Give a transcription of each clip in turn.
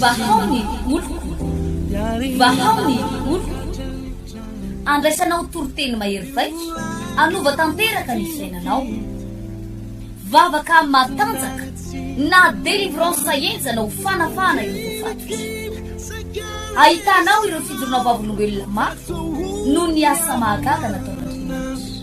Vahao ny oloko, vahao ny oloko, andraisanao toriteny mahery vaika, hanova tanteraka ny fiainanao. Vavaka matanjaka na délivrance henjana ho fanafahana ireo voafatotra. Ahitanao ireo fijoroana vavolombelona mafy noho ny asa mahagaga nataon'Andriamanitra.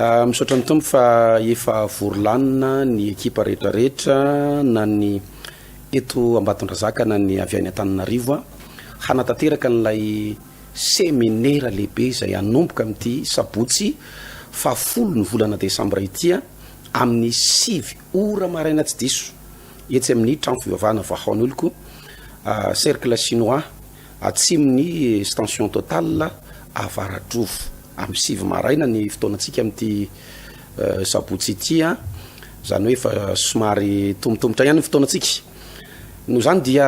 Misaotra ny Tompo fa efa vory lanona ny ekipa rehetra rehetra na ny eto Ambatondrazaka na ny avy any Antananarivo hanatanteraka an'ilay seminera lehibe izay hanomboka amin'ity sabotsy fahafolo ny volana desambra ity amin'ny sivy ora maraina tsy diso etsy amin'ny trano fivavahana Vahaon'oloko cercle chinois atsimon'ny station Total Avaratrofo. Amin'ny sivy maraina ny fotoanantsika amin'ity sabotsy ity an! Izany hoe efa somary tombotombotra ihany ny fotoanantsika. Noho izany dia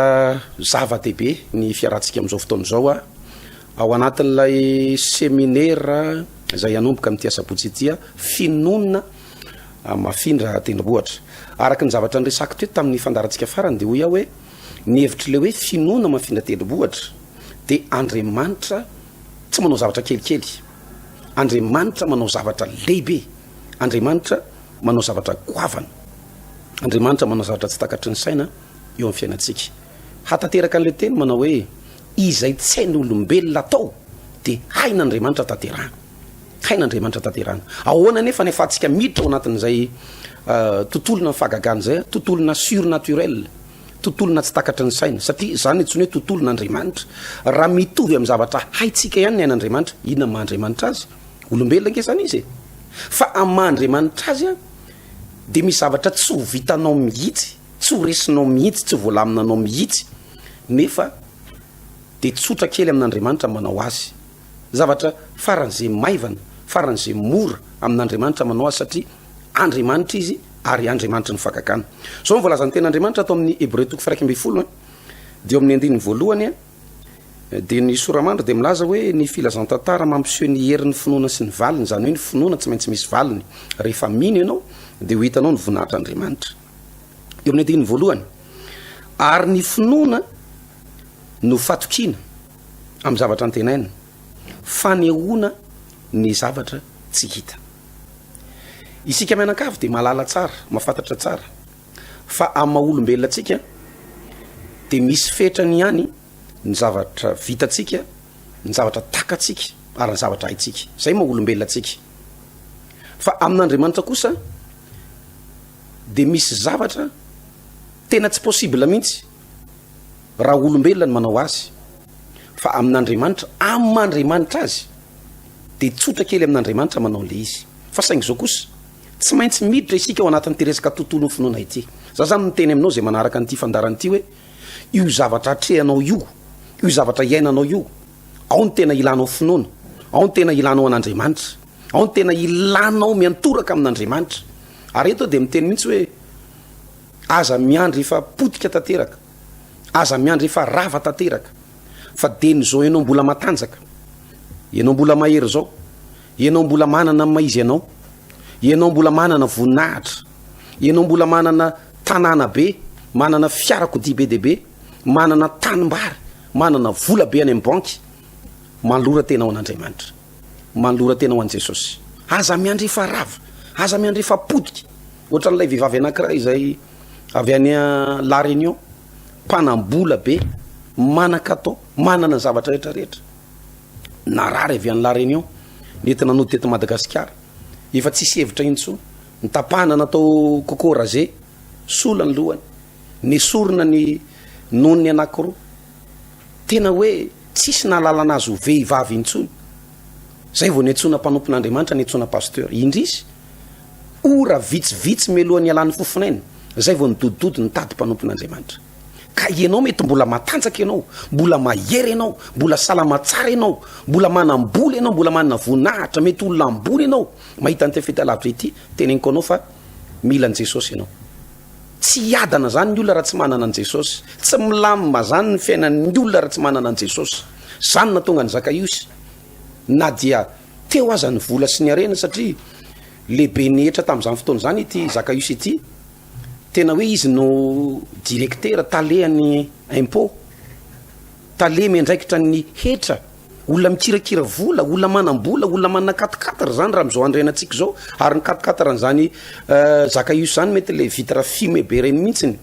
zava-dehibe ny fiarahantsika amin'izao fotoana izao an! Ao anatin'ilay seminera izay hanomboka amin'ity asabotsy ity an! Finoana hamafindra tendrombohitra. Araka ny zavatra niresako teto tamin'ny fandaharantsika farany dia hoy aho hoe ny hevitr'ilay hoe finoana hamafindra tendrombohitra dia Andriamanitra tsy manao zavatra kelikely. Andriamanitra manao zavatra lehibe. Andriamanitra manao zavatra goavana. Andriamanitra manao zavatra tsy takatry ny saina eo amin'ny fiainantsika. Hatateraka an'ilay teny manao hoe izay tsy hain'olombelona atao dia hain'Andriamanitra tanterahana. Hain'Andriamanitra tanterahana. Ahoana anefa ny afahantsika miditra ao anatin'izay euh, tontolona fahagagana izay, tontolona surnaturel. Tontolo na tsy takatry ny saina, satria izany antsoina hoe tontolo na Andriamanitra. Raha mitovy amin'ny zavatra haintsika ihany ny ain'Andriamanitra, inona ny maha Andriamanitra azy? Olombelona ange izany izy e! Fa amin'ny maha Andriamanitra azy an, dia misy zavatra tsy ho vitanao mihitsy, tsy ho resinao mihitsy, tsy ho voalaminanao mihitsy, nefa dia tsotra kely amin'Andriamanitra ny manao azy. Zavatra faran'izay maivana, faran'izay mora amin'Andriamanitra manao azy satria Andriamanitra izy ary Andriamanitry ny fagagana. Zao ny voalazan'ny tenin'Andriamanitra ato amin'ny Hebreo toko fahiraika ambin'ny folo a, dia eo amin'ny andininy voalohany a, dia ny soramandry dia milaza hoe ny filazantantara mampiseho ny herin'ny finoana sy ny valiny, izany hoe ny finoana tsy maintsy misy valiny, rehefa mino ianao dia ho hitanao ny voninahitr'Andriamanitra. Eo amin'ny andininy voalohany, ary ny finoana no fatokiana amin'ny zavatra antenaina, fanehoana ny zavatra tsy hita. Isika mianankavy dia mahalala tsara, mahafantatra tsara fa amin'ny maha olombelona antsika dia misy fetrany ihany ny zavatra vitantsika, ny zavatra takatsika ary ny zavatra haintsika. Izay maha olombelona antsika. Fa amin'Andriamanitra kosa dia misy zavatra tena tsy possible mihitsy. raha olombelona no manao azy fa amin'Andriamanitra amin'Andriamanitra azy dia tsotra kely amin'Andriamanitra manao an'ilay izy fa saingy izao kosa tsy maintsy miditra isika ao anatin'ity resaka tontolon'ny finoana ity za zany miteny aminao izay manaraka an'ity fandarana ity hoe io zavatra atrehanao io io zavatra iainanao io ao ny tena ilanao finoana ao ny tena ilanao an'Andriamanitra ao ny tena ilanao miantoraka amin'Andriamanitra ary eto dia miteny mihitsy hoe Aza miandry efa potika tanteraka, aza miandry efa rava tanteraka fa de ny zao enao mbola matanjaka, enao mbola mahery zao, enao mbola manana ny maha izy anao, enao mbola manana voninahitra, enao mbola manana tanàna be, manana fiarakodia be dia be, manana tanimbary, manana vola be any amin'ny banky, manolora tenao an'Andriamanitra. Manolora tena ho an'i Jesosy. Aza miandrefa rava, aza miandrefa potika. Ohatran'ilay vehivavy anankiray izay avy any La Réunion, mpanam-bola be, manan-katao, manana ny zavatra rehetra rehetra. Narary avy any La Réunion, nety nanody teto Madagasikara. Efa tsisy hevitra intsony. Nitapahana natao coco rasé, sola ny lohany. Nesorina ny nonony anankiroa. Tena hoe tsisy nahalalana azy ho vehivavy intsony. Zay vao niantsoana mpanompon'Andriamanitra, niantsoana pasteur. Indrisy, ora vitsivitsy mialohan'ny hialan'ny fofonaina, zay vao nidodidody nitady mpanompon'Andriamanitra. Ka ianao mety mbola matanjaka ianao, mbola mahery ianao, mbola salama tsara ianao, mbola manam-bola ianao, mbola manana voninahitra, mety olona ambony ianao, mahita an'ity fahitalavitra ity, teneniko anao fa mila an'i Jesosy ianao. Tsy hiadana zany ny olona raha tsy manana an'i Jesosy. Tsy milamina zany ny fiainan'ny olona raha tsy manana an'i Jesosy. Zany no nahatonga an'i Zakaiosy na dia teo aza ny vola sy ny harena satria lehibe ny hetra tamin'izany fotoana izany ity Zakaiosy ity. Tena hoe izy no directeur, tale an'ny impôt, tale miandraikitra ny hetra Olona mikirakira vola, olona manam-bola, olona manana quatre quatre zany raha am'zao andrianantsika zao, ary ny quatre quatre an'zany euh, zaka io zany mety le vitre fumée be reny mihitsiny,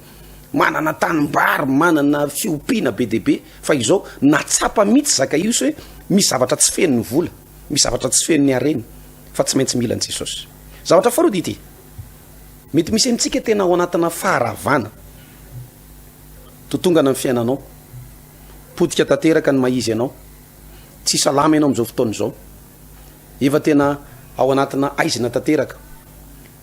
manana tanimbary, manana fiompiana be dia be, fa izao na tsapa mihitsy zaka io se misy zavatra tsy fenon'ny vola, misy zavatra tsy fenon'ny harena, fa tsy maintsy mila an'i Jesosy. Zavatra faharoa dia ity, mety misy amintsika tena ao anatina faharavana, to tongana ny fiainanao, Potika tanteraka ny maha-izy anao. Tsy salama ianao amin'izao fotoana izao. Efa tena ao anatina haizina tanteraka.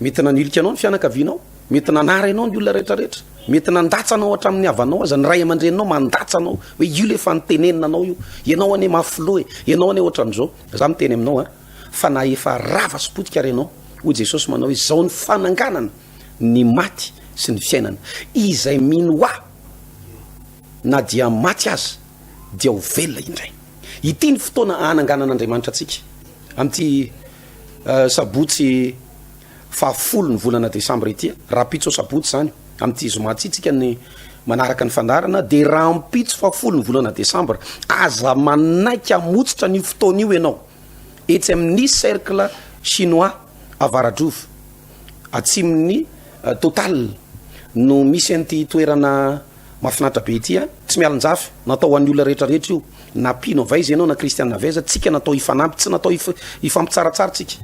Mety nanilika anao ny fianakavianao. Mety nanara ianao ny olona rehetrarehetra. Mety nandatsa anao hatramin'ny havanao aza. Ny ray aman-dreninao mandatsa anao. Hoe io ilay efa nitenenina anao io. Ianao anie mafy loha e. Ianao anie ohatran'izao. Izaho miteny aminao an, fa na efa rava sy potika ary ianao, hoy Jesosy manao hoe, izao ny fananganana ny maty sy ny fiainana. Izay mino Ahy. Na dia maty aza dia ho velona indray. Ity ny fotoana ahananganan'Andriamanitra antsika. Amin'ity sabotsy fahafolo ny volana desambra ity, rahampitso sabotsy izany, amin'ity zoma ity tsika ny manaraka ny fandaharana dia rahampitso fahafolo ny volana desambra, aza manaiky hamotsitra an'io fotoana io ianao etsy amin'ny cercle chinois Avaradraova atsimon'ny Total no misy an'ity toerana Mafinaritra be ity a! Tsy mialonjafy, natao hoan'ny olona rehetra rehetra io na mpino avy aiza ianao na kristiana avy aiza, tsika natao hifanampy tsy natao hifampitsaratsara tsika,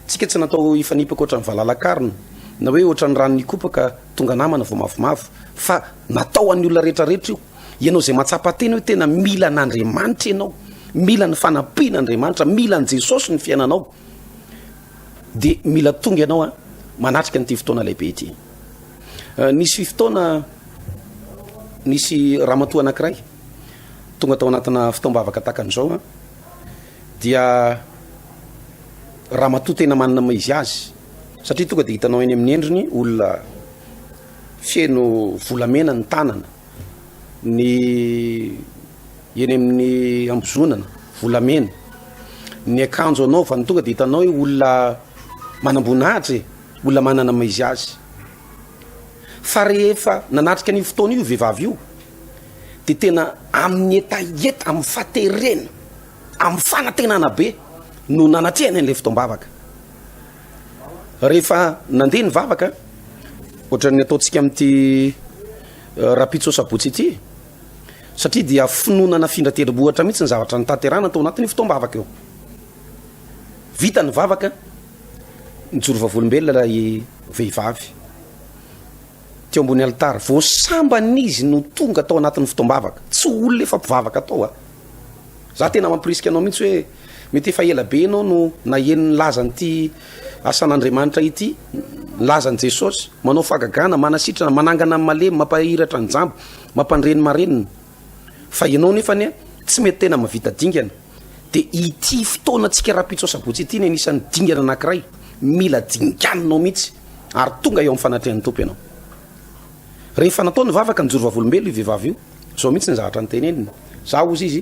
tsika tsy natao hifanipaka ohatran'ny valala karina na hoe ohatran'ny rano nikopaka tonga namana vao mavomavo fa natao hoan'ny olona rehetra rehetra io, ianao zay matsapa tena hoe tena mila an'Andriamanitra ianao, mila ny fanampian'Andriamanitra, mila an'i Jesosy ny fiainanao dia mila tonga ianao a! manatrika an'ity fotoana lehibe ity. Nisy fotoana nisy ramatoa anankiray tonga tao anatina fotoam-bavaka takany izao a dia ramatoa tena manana maha izy azy satria tonga dia hitanao eny amin'ny endriny olona feno volamena ny tanana ny eny amin'ny ambozonana volamena ny akanjo anaovany tonga dia hitanao hoe olona manam-boninahitra e Olona manana maha izy azy. Fa rehefa nanatrika an'io fotoana io vehivavy io dia tena amin'ny hetaheta, amin'ny faterena, amin'ny fanantenana be no nanatrehany an'ilay fotoam-bavaka. Rehefa nandeha ny vavaka, ohatran'ny ataontsika amin'ity eh, rapitso sabotsy ity, satria dia finoana nafindra tendrombohitra mihitsy ny zavatra nitaterana tao anatin'io fotoam-bavaka io. Vita ny vavaka, Nijoro vavolombelona ilay vehivavy teo ambony alitara. Vao sambany izy no tonga tao anatin'ny fotoam-bavaka. Tsy olona efa mpivavaka tao a. Za tena mampirisika anao mihitsy hoe mety efa ela be ianao no naheno ny lazan'ity asan'Andriamanitra ity, ny lazan'i Jesosy. Manao fahagagana, manasitrana, manangana ny malemy, mampahiratra ny jamba, mampandre ny marenina. Fa ianao nefa anie tsy mety tena mahavita dingana. dia ity fotoanantsika rahampitso asabotsy ity ny anisan'ny dingana anankiray mila dinganinao mihitsy ary tonga eo amin'ny fanatrehan'ny tompo ianao rehefa natao ny vavaka ny jorovavolombelo io vehivavy io zao mihitsy ny zavatra ny teneniny za ozy izy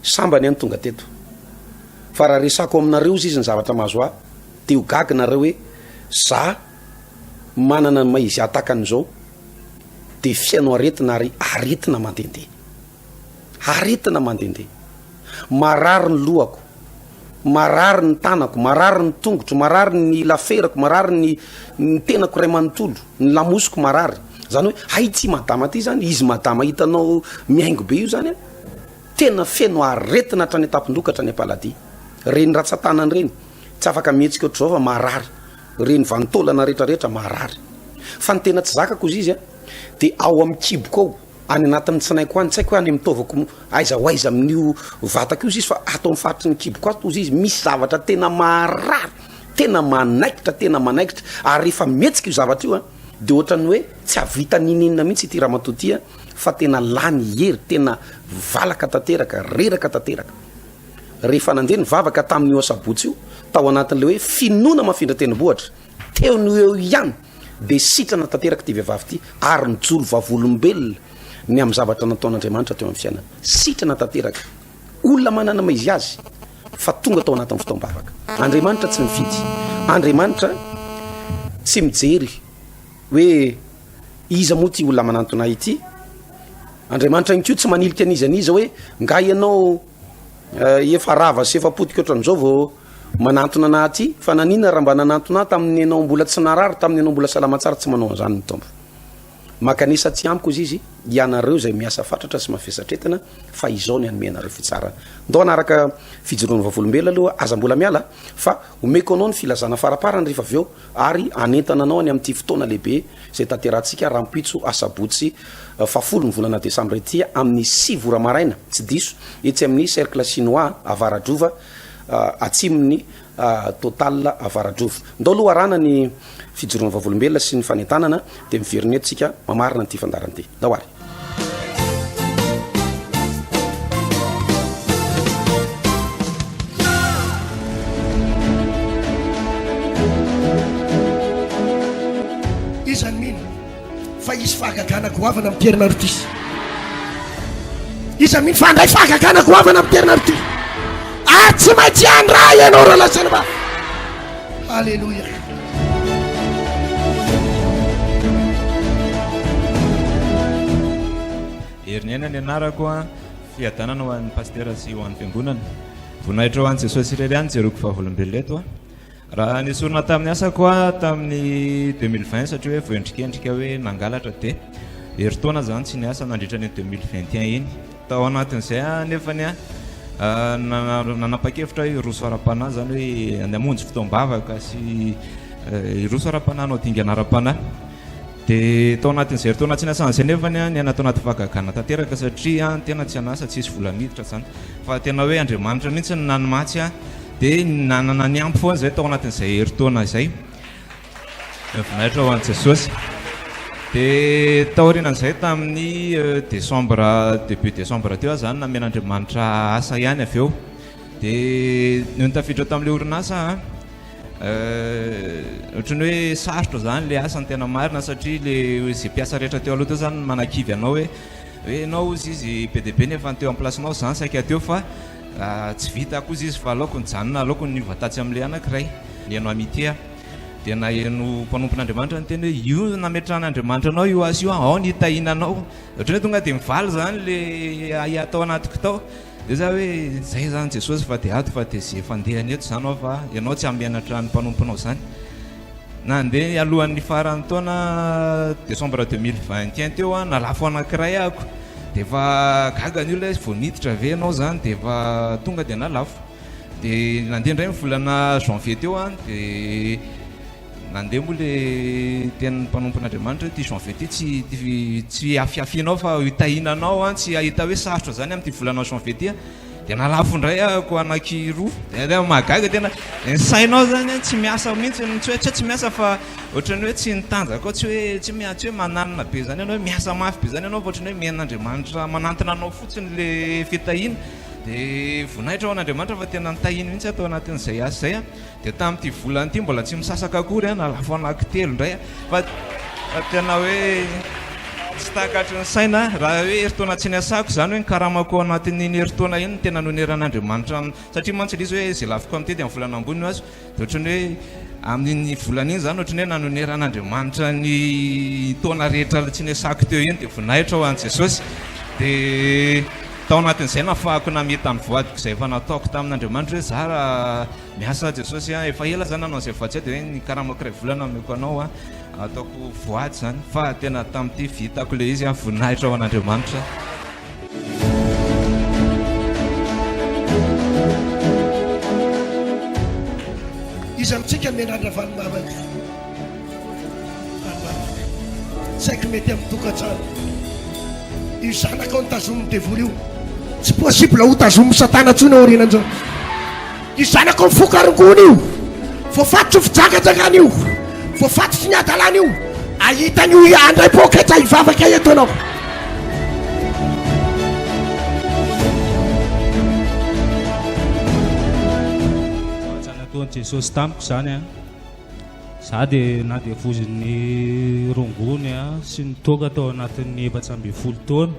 sambany any tonga teto fa raha resako aminareo zy izy ny zavatra mahazo ahy de ho gagy nareo hoe za manana ny maizy atakan'izao de fihaino aretina ary aretina mandendeha Aretina mandehandeha. Marary ny lohako. Marary ny tanako. Marary ny tongotro. Marary ny laferako. Marary ny ny tenako iray manontolo. Ny lamosiko marary. Zany hoe hay ity madama ity zany, izy madama hitanao mihaingo be io zany an, tena feno aretina hatrany an-tampon-doha ka hatrany am-paladia. Reny ratsan-tanany reny, tsy afaka mihetsika ohatr'izao fa marary. Reny vanin-taolana rehetrarehetra marary. Fa ny tena tsy zakako hozizy an, dia ao amin'ny kiboko ao. Any anatin'ny tsinaiko any, tsy haiko hoe any amin'ny taovako aiza ho aiza amin'io vatako io izy fa ato amin'ny faritry ny kiboko ato hozy izy misy zavatra tena maharary, tena manaikitra, tena manaikitra ary rehefa mihetsika io zavatra io a dia ohatran'ny hoe tsy hahavita n'inon'inona mihitsy ity ramatoa ity a fa tena lany hery, tena valaka tanteraka, reraka tanteraka. Rehefa nandeha ny vavaka tamin'io asabotsy io tao anatin'ilay hoe finoana mafindra tendrombohitra, teo no eo ihany dia sitrana tanteraka ity vehivavy ity ary nijoro vavolombelona ny amin'ny zavatra nataon'Andriamanitra teo amin'ny fiainana. Sitrana tanteraka. Olona manana maha izy azy fa tonga tao anatin'ny fotoam-bavaka. Andriamanitra tsy mifidy. Andriamanitra tsy mijery hoe iza moa ity olona manantona ity. Andriamanitra ihany koa tsy manilika an'iza an'iza hoe nga ianao Eh, efa rava sy efa potika ohatran'izao vao manantona anah aty fa nanina raha mba nanantona ahy tamin'ny anao mbola tsy narary tamin'ny anao mbola salama tsara tsy manao an'izany ny tompo makanisa tsy amiko izy izy ianareo izay miasa fatratra sy mafesatretana fa izao ny hanome anareo fitsarana ndao anaraka fijoroana vavolombela aloha aza mbola miala fa omeko anao ny filazana faraparany rehefa avy eo ary hanentana anao any amin'ity fotoana lehibe izay tanterahantsika rahampitso asabotsy fahafolo ny volana desambra ity amin'ny sivy ora maraina tsy diso etsy amin'ny cercle chinois avaradrova atsimon'ny total avaradrova ndao aloha arana ny fijoroana vavolombelona sy ny fanentanana dia miverina eto tsika mamarina an'ity fandaran'ity Tao ary. Iza no mino fa hisy fahagagana goavana amin'ny Pierre Marutis? Iza mino fa handray fahagagana goavana amin'ny Pierre Marutis? Ary tsy maintsy handray ianao Roland Selva. Aleloia. Heriniaina ny anarako a, fiadanana ho an'ny pastera sy ho an'ny fiangonana. Voninahitra ho an'i Jesosy irery ihany jeroko vavolombelona eto a. Raha nesorina tamin'ny asako a tamin'ny 2020 satria hoe voendrikendrika hoe nangalatra dia herintaona zany tsy niasa nandritra ny 2021 iny. Tao anatin'izay anefa ny ahy, nanapa-kevitra aho hiroso ara-panahy, izany hoe ny hamonjy fotoam-bavaka sy hiroso ara-panahy, hanao dingana ara-panahy. Dia tao anatin'izay herintaona tsy niasana izay anefa ny ahy, niaina tao anaty fahagagana tanteraka satria ny tena tsy an'asa, tsy nisy vola miditra izany fa tena hoe Andriamanitra mihitsy no nanimatsy ahy. Dia nanana ny ampy foana izay tao anatin'izay herintaona izay. Ny voninahitra ho an'i Jesosy. Dia taorianan'izay tamin'ny desambra, début desambra teo aho izany namen'Andriamanitra asa ihany avy eo. Dia noho ny tafiditra tamin'ilay orinasa aho, ohatran'ny hoe sarotra izany ilay asa ny tena marina satria ilay izay mpiasa rehetra teo aloha teo izany no manakivy anao hoe hoe ianao hozy izy be dia be ny efa teo am'plasinao izaho no saika teo fa tsy vita koa hozy izy fa aleoko nijanona, aleoko niova tatsy amin'ilay anankiray, nihaino Amitié aho. Dia naheno mpanompon'Andriamanitra niteny hoe io nametrahan'Andriamanitra anao io asa io an, ao ny hitahiana anao. Ohatran'ny hoe tonga dia mivaly izany ilay ahiahy tao anatiko tao. Dia za hoe izay izany Jesosy fa dia ato fa dia izay efa ndeha any eto izany aho fa ianao tsy hamenatra ny mpanomponao izany. Nandeha alohan'ny faran'ny taona décembre 2021 teo an, nalafo anankiray ahako. Dia efa gaga ny olona hoe vao niditra ve ianao izany dia efa tonga dia nalafo. Dia nandeha indray ny volana janvier teo an, dia nandeha moa le tenin'ny mpanompon'Andriamanitra hoe ity janvier ity tsy tsy hiafiafianao fa hitahiana anao an, tsy hahita hoe sarotra izany amin'ity volana janvier ity an, dia nalafo indray ahoko anaky roa, dia tena mahagaga tena ny sainao izany an tsy miasa mihintsy, tsy hoe tsy hoe tsy miasa fa ohatran'ny hoe tsy ny tanjaka ao tsy hoe tsy hoe tsy hoe mananina be izany ianao hoe miasa mafy be izany ianao fa ohatran'ny hoe mihaino an'Andriamanitra manantona anao fotsiny le fitahiana. Dia voninahitra ho an'Andriamanitra fa tena notahiny mihitsy aho tao anatin'izay asa izay. Dia tamin'ity volana ity mbola tsy misasaka akory aho, nalafo anankitelo indray fa fa tena hoe tsy takatry ny saina. Raha hoe herintaona tsy niasako izany hoe ny karamako anatin'iny herintaona iny no tena noneran'Andriamanitra aminy. Satria mantsy ilay izy hoe izay lafiko amin'ity dia amin'ny volana ambony no azo. Dia ohatran'ny hoe amin'iny volana iny izany ohatran'ny hoe nanoneran'Andriamanitra ny taona rehetra tsy niasako teo iny dia voninahitra ho an'i Jesosy. Dia tao anatin'izay nafahako namita ny voadiko izay efa nataoko tamin'Andriamanitra hoe za miasa Jesosy a, efa ela za nanao izay voady izay dia hoe ny karamako iray volana omeko anao a, ataoko voady izany fa tena tamin'ity vitako ilay izy a, voninahitra ho an'Andriamanitra. Iza amintsika mianatra avy any mama ity? Saiky mety amin'ny tokantrano. Io zanakao ny tazonin'ny devoly io. Tsy possible ho tazonin'i Satana intsony aorianan'izao. Io zanako mifoka rongony io, voafatotry ny fijangajangan io, voafatotry ny hadalana io, ahita an'io handray poketra hivavaka eto ianao. nataon'i Jesosy tamiko izany a za dia nadevozin'ny rongony a sy ny toaka tao anatin'ny efatra ambin'ny folo taona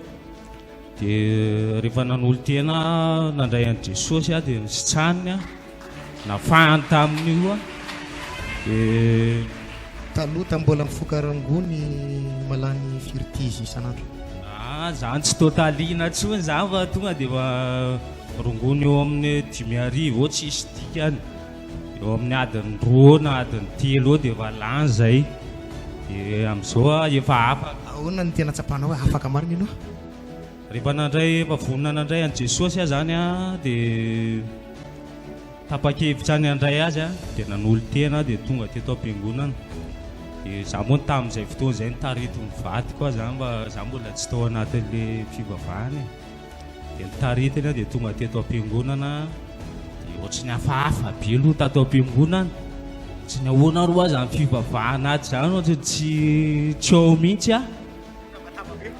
Dia rehefa nanolo-tena aho, nandray an'i Jesosy aho dia nositrany aho, nafahany tamin'io aho, dia. Taloha tamin'ny mbola mifoka rangony mahalany firy tizy isan'andro? Ah, izany tsy totalina intsony izany fa tonga dia efa rongony eo amin'ny dimy arivo eo tsisy dikany. Eo amin'ny adiny roa na adiny telo eo dia efa lany izay. Dia amin'izao aho efa afaka. Ahoana no tena tsapanao hoe afaka marina ianao? Rehefa nandray, efa vonona nandray an'i Jesosy aho izany an, dia tapa-kevitra ny handray Azy an, dia nanolo-tena aho dia tonga teto am-piangonana. Dia izaho moa tamin'izay fotoana izay nitari-don'ny vadiko aho izany fa izaho mbola tsy tao anatin'ilay fivavahana e. Dia ny taritina dia tonga teto am-piangonana dia ohatry ny hafahafa be aloha tato am-piangonana. Tsy ny ahoana ary ho azy amin'ny fivavahana atsy izany ohatry ny tsy tsy ao mihitsy aho.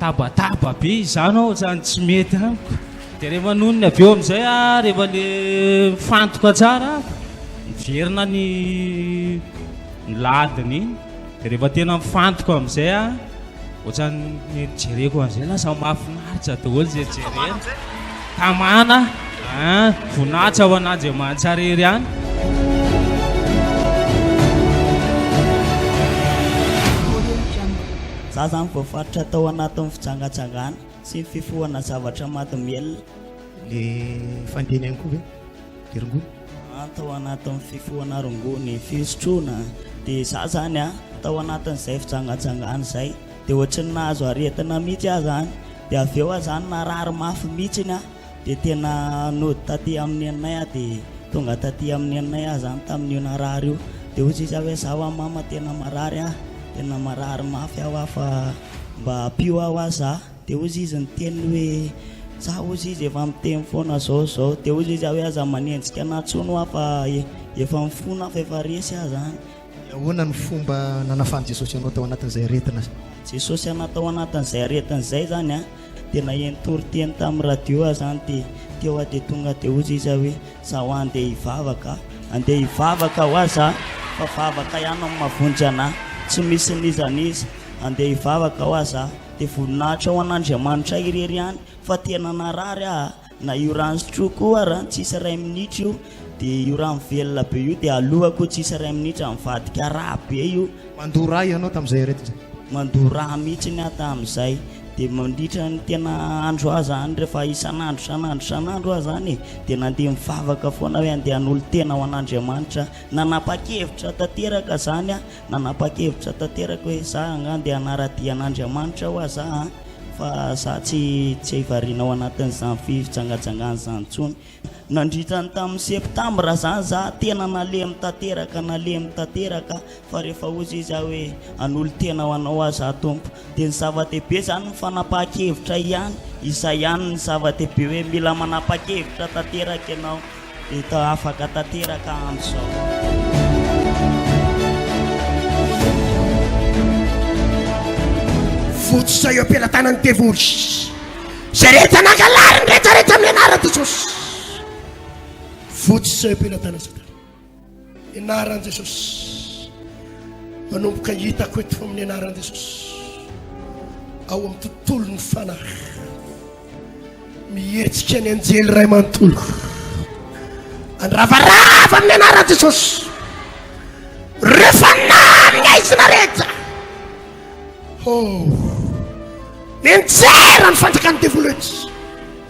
Tabataba be izany aho ohatrany tsy mety amiko. Dia rehefa nonony avy eo amin'izay aho rehefa le mifantoka tsara aho, miverina ny ny ladiny iny. Dia rehefa tena mifantoka amin'izay aho, ohatran'ny jereko an'izay lasa mahafinaritra daholo izay jerena. Tamana, ah, voninahitra ho an'Andriamanitra irery ihany. Za zany voafaritra tao anatin'ny fijangajangana sy ny fifohana zavatra maty mihelina. Le fandinihany koa ve? rongony. An, tao anatin'ny fifohana rongony, fisotroana, dia za zany an, tao anatin'izay fijangajangana izay, dia ohatry ny nahazo aretina mihitsy aho zany, dia avy eo aho zany narary mafy mihitsy an, dia tena nody taty amin'ny neninay aho, dia tonga taty amin'ny neninay aho zany tamin'io narary io, dia hoy izy hoe za wa mama tena marary an, tena marary mafy aho an fa mba ampio aho an za. Dia hozy izy niteny hoe, Za hozy izy efa miteny foana zao izao. Dia hozy izy aho hoe, Aza manenjika anah tsony hoa fa efa mifona aho fa efa resy aho zany. Ahoana no fomba nanafan'i Jesosy anao tao anatin'izay aretina izay? Jesosy anah tao anatin'izay aretina izay zany a, dia naheno toriteny tamin'ny radio aho zany, dia teo aho dia tonga dia hozy izy aho hoe, Za hoa andeha hivavaka a, andeha hivavaka hoa za fa vavaka ihany no mavonjy anah, tsy misy n'iza n'iza, andeha hivavaka hoa za. Dia voninahitra ho an'Andriamanitra irery ihany fa tena narary aho a! Na io rano sotroiko io ary an, tsy isy iray minitra io dia io rano velona be io dia alohako tsy isy iray minitra, mivadika rà be io. Mandoa rà ianao tamin'izay ry Eddy? Mandoa rà mihitsiny aho tamin'izay, dia mandritra ny tena andro aho izany rehefa isan'andro isan'andro isan'andro aho izany e, dia nandeha mivavaka foana hoe andeha hanolo-tena ho an'Andriamanitra aho, nanapa-kevitra tanteraka izany aho. Nanapa-kevitra tanteraka hoe za angaha ndeha hanara-dia an'Andriamanitra hoa za an! fa za tsy tsy hivariana ao anatin'izany fijangajangana izany intsony. Nandritra ny tamin'ny septambra izany za tena nalemy tanteraka nalemy tanteraka fa rehefa hozy izy aho hoe hanolo-tena ho anao aho za Tompo dia ny zava-dehibe izany ny fanapahan-kevitra ihany, izay ihany ny zava-dehibe hoe mila manapa-kevitra tanteraka ianao. Hita afaka tanteraka amin'izao. Votsotra eo am-pelatanan'ny devoly izay rehetra nangalary ny rehetrarehetra amin'ny anaran'i Jesosy. Votsotra eo am-pelatanan'i Satana. Ny anaran'i Jesosy. Manomboka hitako eto fa amin'ny anaran'i Jesosy. Ao amin'ny tontolon'ny fanahy. Mihetsika ny anjely iray manontolo. Andravarava amin'ny anaran'i Jesosy. Rehefa namina izy nareta. Oh. Nenjera ny fanjakan'ny devoly rehetra.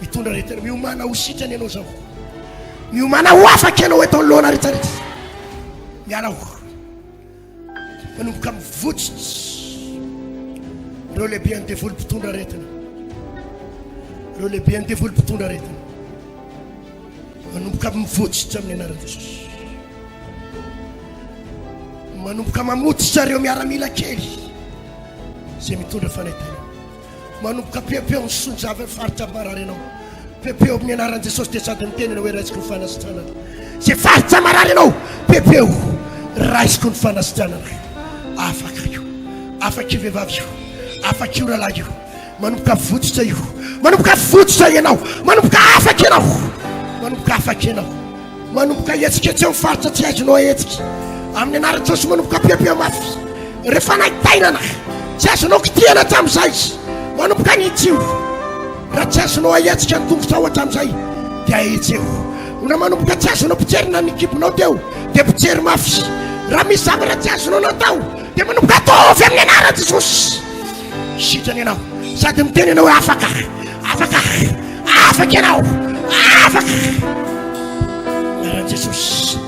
Mitondra aretina. Miomàna ho sitrana ianao izao. Miomàna ho afaka ianao eto anoloana retraretra. Mialao. Manomboka mivotsitsy ireo lehibean'ny devoly mpitondra aretina. Ireo lehibean'ny devoly mpitondra aretina. Manomboka mivotsitsy amin'ny anaran'i Jesosy. Manomboka mamotsitra ireo miaramila kely izay mitondra fanaitana. Manomboka pepeo ny sonjava amin'ny faritra marary ianao. Pepeo amin'ny anaran'i Jesosy dia sady miteny ianao hoe raisiko ny fanasitranana. Izay faritra marary ianao, pepeo, raisiko ny fanasitranana. Afaka io, afaka io vehivavy io, afaka io rahalahy io. Manomboka votsotra io, manomboka votsotra ianao, manomboka afaka ianao, manomboka afaka ianao. Manomboka hihetsiketsy amin'ny faritra tsy azonao ahetsika amin'ny anaran'i Jesosy manomboka ampiampia mafy ireo fanaintainana tsy azonao kitihana hatramin'izay manomboka ny hitsio raha tsy azonao ahetsika ny tongotrao hatramin'izay dia ahetseo na manomboka tsy azonao pijerina ny kibonao teo dia pijery mafy raha misy zavatra tsy azonao natao dia manomboka ataovy amin'ny anaran'i Jesosy Sitrana ianao sady miteny ianao hoe afaka, afaka, afaka ianao, afaka. Naran'i Jesosy.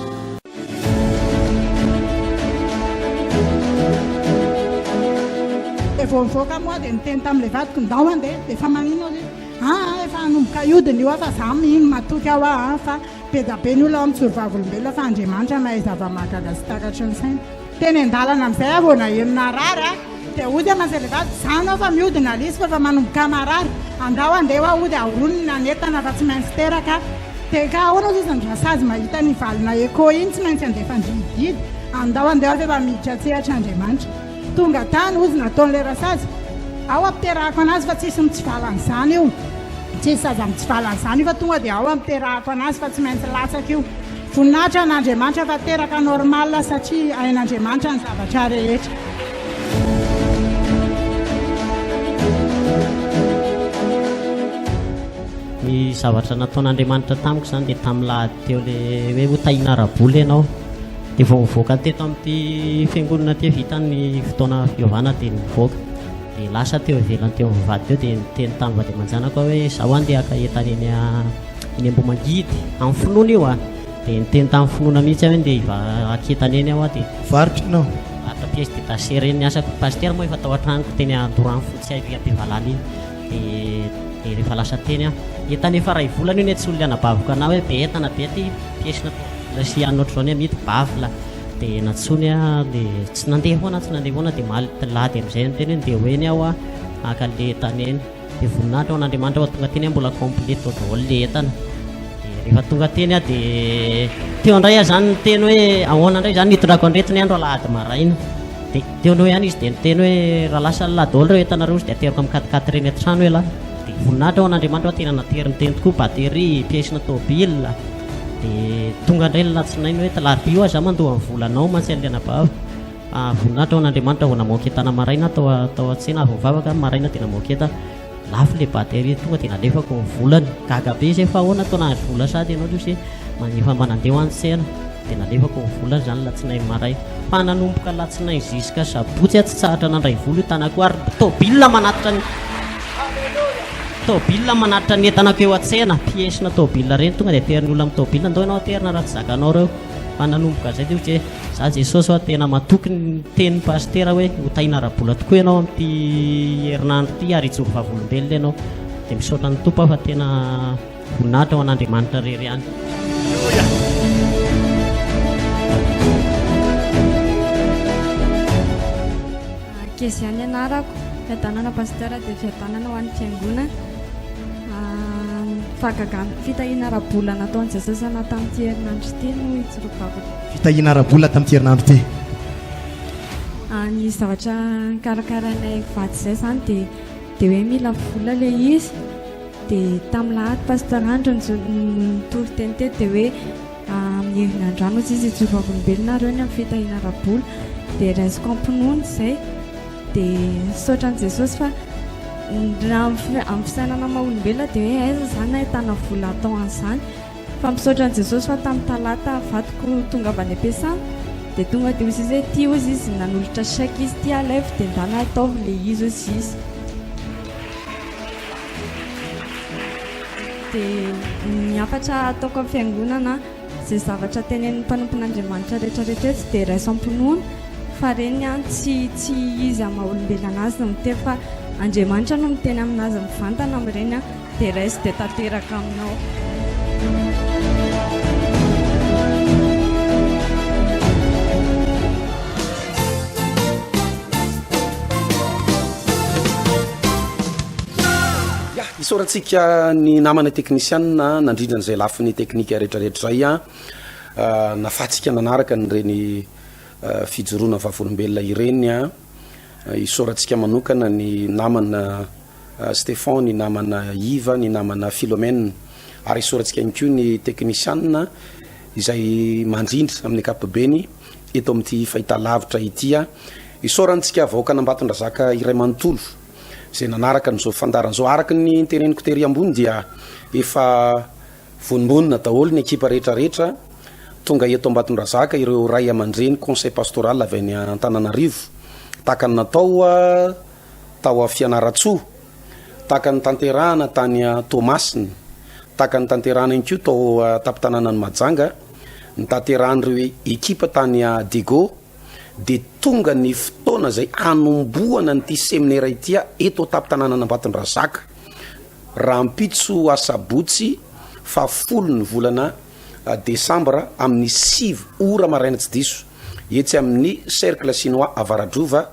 Dia vao nivoaka moa dia niteny tamin'ilay vadiko ndao mandeha dia efa maninona izy aa ah, efa hanomboka hiodina io aho fa za mino matoky aho aho fa be dia be ny olona ao amin'ny solovavolombelona fa Andriamanitra mahay zava-mahagaga sy takatry ny saina. Teny an-dalana amin'izay aho vao naheno narary a! Dia hody aman-jery vavy, Izaho nao fa miody nalisiko efa manomboka marary, andao handeha hoa hody haorony ny nanentana fa tsy maintsy teraka aho. Dia ka ahoana ozy izy no rasazy mahita ny valona Echo iny tsy maintsy handefa an-drihidihidy, andao handeha hoa f'efa miditra an-tsehatra Andriamanitra. Tonga tany ozy nataon'ilay rasazy, ao ampiterahako an'azy fa tsisy mitsivala an'izany io, tsisy zaza mitsivala an'izany io fa tonga dia ao ampiterahako an'azy fa tsy maintsy latsaka io. Voninahitra an Andriamanitra fa teraka normal satria hain Andriamanitra ny zavatra rehetra. Ny zavatra nataon'Andriamanitra tamiko izany dia tamin'ny lahady teo le hoe ho tahina ara-bola ianao. Dia vao nivoaka teto amin'ity fiangonana ity vita ny fotoana fiovana dia nivoaka. Dia lasa teo ivelany teo amin'ny vady teo dia niteny tamin'ny vady aman-janako aho hoe izaho andeha haka entana eny Eny Ambohimangidy, amin'ny finoana io a. Dia niteny tamin'ny finoana mihitsy aho hoe ndeha hivaky tany eny aho a, dia. Varotra ianao? Varotra pièces détachées ireny ny asako. Pasitera moa efa tao an-tranoko teny Andorano fony tsy hay am-pivalana iny. Dia dia rehefa lasa teny aho. Entana efa iray volana io ny antsoin'ilay anabaviko anà hoe be entana be aty, pièces na tournevis sy anona ohatr'izao ny amidy, baffle. Dia nantsoiny aho, dia tsy nandeha foana aho, tsy nandeha foana aho, dia omaly alahady amin'izay niteny hoe ndeha ho eny aho a, haka an'ilay entana eny. Dia voninahitra ho an'Andriamanitra fa tonga teny aho mbola complet tao daholo le entana. Dia rehefa tonga teny aho dia teo indray aho izany niteny hoe ahoana indray izany nitondrako an'ireto ny andro alahady maraina. Dia teo aloha ihany izy dia niteny hoe raha lasa an'lah daholo ireo entanareo izy dia ateriko amin'ny quat-quatre ireny an-trano elah. Dia voninahitra ho an'Andriamanitra fa tena nateriny teny tokoa, batterie, pièce-na tôbila. Dia tonga indray ny alatsinainy hoe talarobia hoa izaho mandoa ny vola anao mantsy an'ilay anabaviko. Ah, voninahitra ho an'Andriamanitra vao namoha ketana maraina tao tao an-tsena avy nivavaka aho maraina dia namoha keta lafo le batterie tonga dia nalefako ny volany gaga be izay fa ahoana tao nahazo vola sady ianao Losy manefa mba nandeha ho any tsena dia nalefako ny volany izany latsinainy maray fa nanomboka latsinainy ziska sabotsy aho tsy tsahatra nandray vola io tanako ary tôbila manatitra ny tôbila manatitra ny entanako eo an-tsena piesina tôbila ireny tonga dia aterin'ny olona amin'ny tôbila ndao ianao aterina raha tsy zakanao ireo fa nanomboka zay dia ohatry hoe za Jesosy a tena matoky ny tenin'ny pasitera hoe ho tahina ara-bola tokoa ianao amin'ity herinandro ity ary hijoro vavolombelona ianao dia misaotra ny tompo aho fa tena voninahitra ho an'Andriamanitra rery ihany Kezia ny anarako, fiadanana Pasteur dia fiadanana ho an'ny fiangonana, fahagagana ny fitahiana ara-bola nataon'i Jesosy anah tamin'ity herinandro ity no hitsirovako. Fitahiana ara-bola tamin'ity herinandro ity. Ny zavatra nikarakarainay vady izay izany dia dia hoe mila vola ilay izy dia tamin'ilay ady Pasteur Andry no nitory teny teo dia hoe Amin'ny herin'androany hozy izy hijoro vavolombelona ary eo ny amin'ny fitahiana ara-bola dia raisiko am-pinoana izay dia misaotra an'i Jesosy fa raha amin'ny fisainana maha olombelona dia hoe aiza izany ahitana vola atao an'izany fa misaotra an'i Jesosy fa tamin'ny talata vadiko tonga avy any am-piasana dia tonga dia hozy izy hoe ity hozy izy nanolotra chèque izy ity alaivo dia ndana ataovy ilay izy hozy izy. Dia ny hafatra ataoko amin'ny fiangonana, izay zavatra tenenin'ny mpanompon'Andriamanitra rehetra rehetra eto dia raisam-pinoana fa reny an, tsy tsy izy amin'ny maha olombelona azy no miteny fa Andriamanitra no miteny aminazy mivantana amin'ireny an, dia raiso dia tanteraka aminao. Isaorantsika ny namana teknisianina nandrindra an'izay lafiny teknika rehetrarehetra izay nafatsika nanaraka an'ireny fijoroana vavolombelona ireny. Isaorantsika manokana ny namana Stefan, ny namana Iva, ny namana Philomène ary isaorantsika ihany koa ny teknisianina izay mandrindra amin'ny ankapobeny. eto amin'ity fahitalavitra ity aho. Isaorantsika vahoakan'Ambatondrazaka iray manontolo izay nanaraka an'izao fandaharana izao. Araka ny teneniko tery ambony dia efa vonongonona daholo ny ekipa rehetra rehetra tonga eto Ambatondrazaka ireo ray aman-dreny conseil pastoral avy any Antananarivo tahaka ny natao tao Fianarantsoa. tahaka ny tanterahana tany Toamasina, tahaka ny tanterahana ihany koa tao an-tampon-tanànan'i Mahajanga, ny tanterahan'ireo ekipa tany Diego, dia tonga ny fotoana izay hanombohana an'ity seminera ity eto an-tampon-tanànan'Ambatondrazaka, rahampitso asabotsy fahafolo ny volana desambra amin'ny sivy ora maraina tsy diso, etsy amin'ny Cercle Chinois Avaradrova.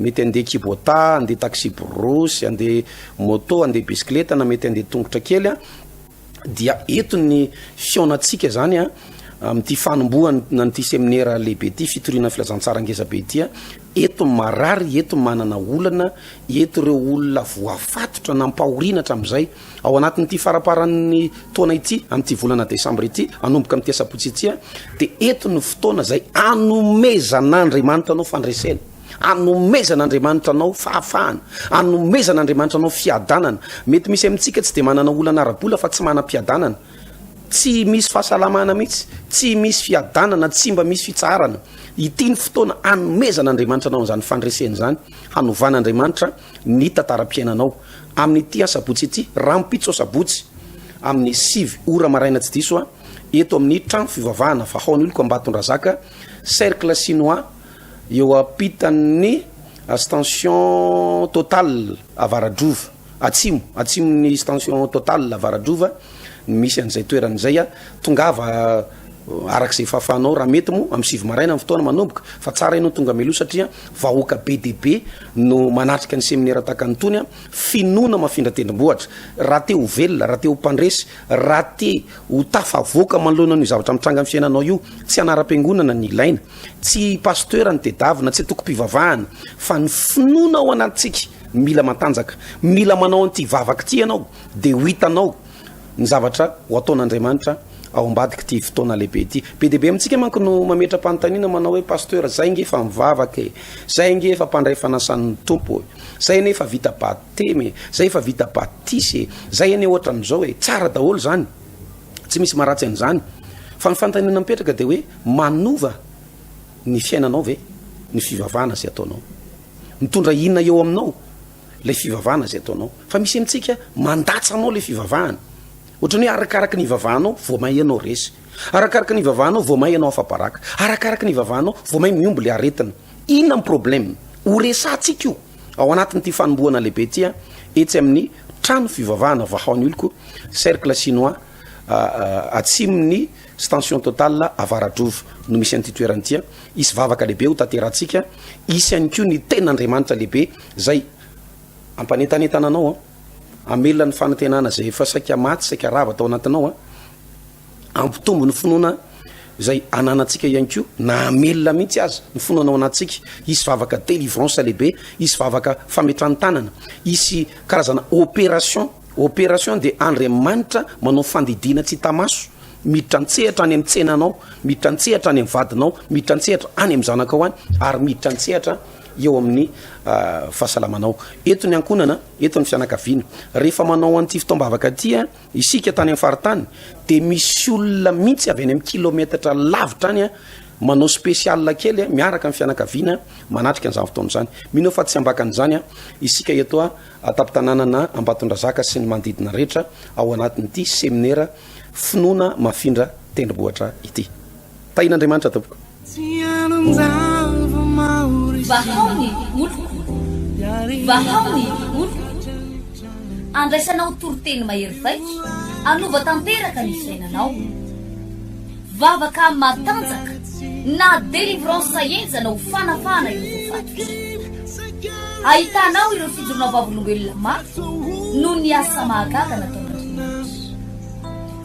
Mety handeha kibotà, handeha taxi brousse, handeha moto, handeha bisikileta na mety handeha tongotra kely a, dia eto ny fihaonantsika zany a amin'ity fanombohan an'ity seminera lehibe ity fitoriana filazantsara ngeza be ity a, eto ny marary, eto ny manana olana, eto ireo olona voafatotra nampahoriana hatramin'izay, ao anatin'ity faraparan'ny taona ity, amin'ity volana desambra ity, hanomboka amin'ity asabotsy ity a, dia eto ny fotoana izay anomezan'Andriamanitra anao fandresena. Anomezan' Andriamanitra anao fahafahana, anomezan' Andriamanitra anao fiadanana. Mety misy amintsika tsy dia manana olana ara-bola fa tsy manam-piadanana, tsy misy fahasalamana mihitsy, tsy misy fiadanana, tsy mba misy fitsaharana. Ity ny fotoana anomezan' Andriamanitra anao an'izany fandresena izany, hanovan' Andriamanitra ny tantaram-piainanao amin' ity asabotsy ity, rahampitso asabotsy amin' ny sivy ora maraina tsy diso, eto amin'ny trano fivavahana Vahaon'oloko Ambatondrazaka, Cercle Chinois. eo ampitan'ny Stension Total Avaradrova Atsimo, atsimon'ny Stension Total Avaradrova no misy an'izay toerana izay. Tongava araka izay fahafahanao raha mety moa amin'ny sivy maraina ny fotoana manomboka fa tsara ianao tonga mialoha satria vahoaka be dia be no manatrika ny seminera tahaka ny itony. Finoana mafindra tendrombohitra. Raha te ho velona, raha te ho mpandresy, raha te ho tafavoaka manoloana an'io zavatra mitranga amin'ny fiainanao io, tsy anaram-piangonana ny ilaina. Tsy Pasteur no tedavina, tsy antokom-pivavahana, fa ny finoana ao anatintsika no mila mantanjaka. Mila manao an'ity vavaka ity ianao, dia ho hitanao ny zavatra ho ataon'Andriamanitra ao ambadik'ity fotoana lehibe ity. Be dia be amintsika manko no mametra-panontaniana manao hoe, Pasteur, izahay ange efa mivavaka e, izahay ange efa mpandray fanasan'ny Tompo e, izahay anie efa vita batemy e, izahay efa vita batisa e, izahay anie hoatran'izao e. Tsara daholo izany. Tsy misy maharatsy an'izany. Fa ny fanontaniana mipetraka dia hoe manova ny fiainanao ve ny fivavahana izay ataonao? Mitondra inona eo aminao ilay fivavahana izay ataonao? Fa misy amintsika mandatsa anao ilay fivavahana. Ohatrany hoe arakaraka ny ivavahanao vao may ianao resy. Arakaraka ny ivavahanao vao may ianao afa-baraka. Arakaraka ny ivavahanao vao may mihombo ilay aretina. Inona ny problème? Ho resahantsika io ao anatin'ity fanombohana lehibe ity a, etsy amin'ny trano fivavahana Vahaon'ny Oloko, Cercle Chinois, atsimon'ny Stention Total Avaradrova no misy an'ity toerana ity a. Hisy vavaka lehibe ho tanterahantsika, hisy ihany koa ny ten'Andriamanitra lehibe izay hampanentanentana anao a, hamelona ny fanantenana izay efa saika maty, saika rava tao anatinao a. Hampitombo ny finoana izay ananantsika ihany koa na hamelona mihitsy aza ny finoana ao anatintsika. Hisy vavaka délivrance lehibe, hisy vavaka fametran-tanana, hisy karazana opération. Opération dia Andriamanitra manao fandidiana tsy hita maso, miditra an-tsehatra any amin'ny tsenanao, miditra an-tsehatra any amin'ny vadinao, miditra an-tsehatra any amin'ny zanakao any ary miditra an-tsehatra eo amin'ny fahasalamanao. Eto ny ankohonana, eto ny fianakaviana. Rehefa manao an'ity fotoam-bavaka ity, Isika tany amin'ny faritany dia misy olona mihitsy avy any amin'ny kilometatra lavitra any manao spécial kely miaraka amin'ny fianakaviana manatrika an'izany fotoana izany. Mino aho fa tsy ambakan'izany isika eto an-tampon-tanànana Ambatondrazaka sy ny manodidina rehetra ao anatin'ity seminera finoana mafindra tendrombohitra ity. Tahian'Andriamanitra tompoko. Vahao ny oloko, vahao ny oloko, andraisanao toriteny mahery vaika, anova tanteraka ny fiainanao. Vavaka matanjaka na délivrance enjana ho fanafahana ireo voafatotra. Ahitanao ireo fijoroana vavolombelona mafy noho ny asa mahagaga nataon'Andriamanitra.